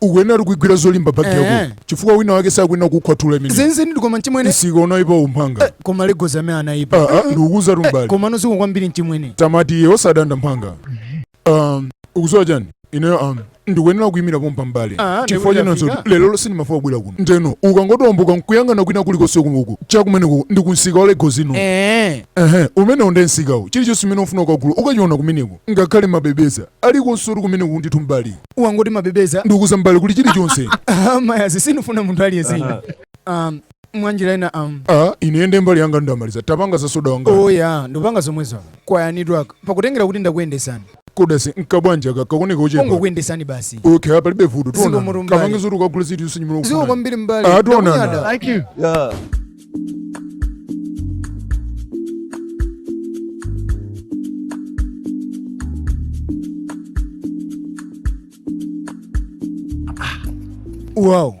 ukuyenatu kuigwira zolimba bagi Eh. yako chifukwa wina wake sakuyena kukhwathula imene zenizeni ndikoma mchimwene nsika unaipa mphanga koma Lagos amene anaipa Ah, ah, ndikukuuzatu m'bale komano zikomo kwambiri mchimwene tamati iwe osadanda mphanga Um, ukuziwa chani ineyo am ndikuyenera kuyimira pompa m'bale Ah, ndi chifukwa kuti chinanso lero sindimafuna kubwera kuno ndeno ukangotembenuka nkuyang'ana kwina kulikonse kunuku chakumeneko ndi kunsika wa lagos ino Eh. ehe umenewo nde nsikawo chilichonse chimene ufuna ukagula ukachiona kumeneko ngakhale mabebeza alikonse ali kumeneko ndithu m'bale wangoti mabebeza ndikuuza m'bale kuli chilichonse Ah, ayi sindifuna munthu aliyense ine um, mwanjira ina um, a ine nde mbali yanga ndamaliza tapanga za soda wanga oya ndipanga zomwezo kwayanidwaka pakutengera kuti ndakuyendesani koma sinkabwanji kakaoneka kochepa kongokuyendesani basi okay apa palibe vuto Zikomo tionana m'bale. kapange zoti ukagule ziti usinyimira zikomo kwambiri m'bale Ah, tionana. Ndakunyadira. Thank you. Yeah. wow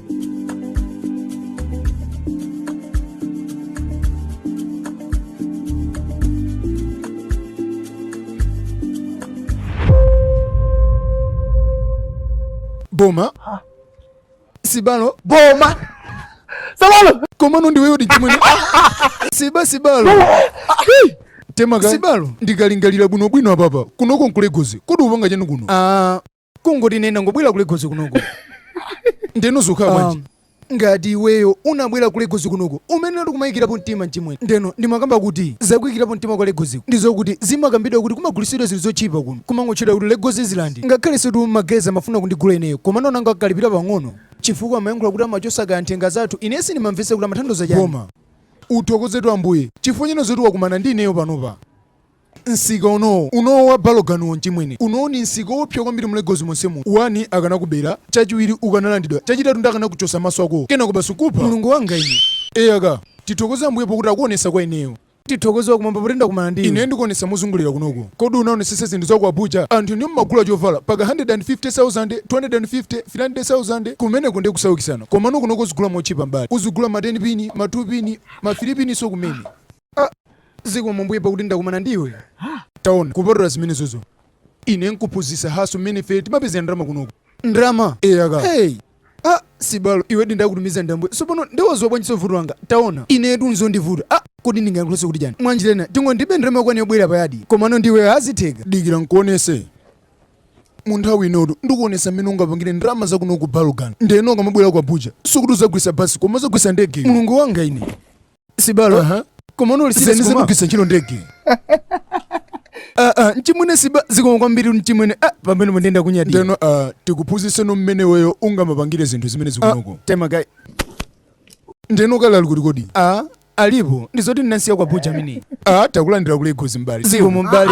boma sibalo boma sabalo komano ndiweyo dichimwene siba sibalo temaka sibalo ndikalingalira bwinobwino apapa kunoko nkulegozi kodi upanga chani kuno Ah, kungoti ine ndangobwera ku Lagos kunoko ndeno zikukhala bwanji ngati iweyo unabwera ku Lagos kunoko umene unati kumaikirapo mtima mchimwene ndeno ndimakamba kuti zakuyikirapo mtima kwa Lagosiko ndizokuti zimakambidwa kuti kumagulitsidwa zinthu zotchipa kuno kumangotchedwa kuti Lagos Island ngakhale situ magezi amafuna kundigula ineyo koma nonanga akalipira pang'ono chifukwa amayankhula kuti amachosa kaye nthenga zathu ine sindimamvetsa kuti amathandiza chani koma uthokozetu ambuye chifukwa cha zoti wakumana ndi ineyo panopa Nsika unoo. Unoo wa Balogunuwo mchimwene. Unoo ni nsika oopsa kwambiri mu Lagos monsemu. One akanakubera, chachiwiri ukanalandidwa, chachitatu ndiye akanakuchosa maso akowo. Kenako basi kukupha. Mulungu wanga ine! Eya ka! Tithokoze Ambuye pokuti akuonesa kwa ineyo. Tithokoze wakumwamba poti ndakumana ndi iwe. Ine ndikuonesa mozungulira kunoko. Kodi unaonesesa zinthu za ku Abuja? Anthu inu mmagula chovala mpaka 150,000, 250, 300,000. Kumeneko ndiye kusaukisana. Komano kunoko uzigula motchipa m'bale. Uzigula ma 10 pini, ma 2 pini, ma 3 piniso kumene. zikomo mbuye pakuti ndakumana ndi iwe taona kupatula zimenezozo ine nkuphunzitsa hustle mmene ife timapezera ndalama kunoko ndalama eyaka hey. ah, sibalo iwe ndi wakutumiza ndi Ambuye tsopano nde waziwa bwanjinso vuto langa taona inetu zondivuta ah, kodi ndingayankhulanso kuti chani mwanjira ina tingoti ndilibe ndalama yokwanira yobwerera payadi komano ndi iwe zitheka dikira nkuonese mu nthawi inotu ndikuonesa mmene ungapangire ndalama zakuno ku Balogun ndeno ukamabwera ku abuja sikuti uzagwisa basi koma uzagwisa ndege mulungu wanga ine sibalo Aha. komano uli zeni sibalo uzagwiritsa ntchito ndege Ah, ah, mchimwene siba zikomo kwambiri mchimwene ah, pamenepo nde ndakunyadira ndeno ah, tikuphunzitseno mmene iweyo ungamapangire zinthu zimene zikunoko temakai ndeno ukalera ali kuti kodi ah, alipo ndizoti ndinasiya ku Abuja mini ah, takulandira ku Lagos m'bale zikomo m'bale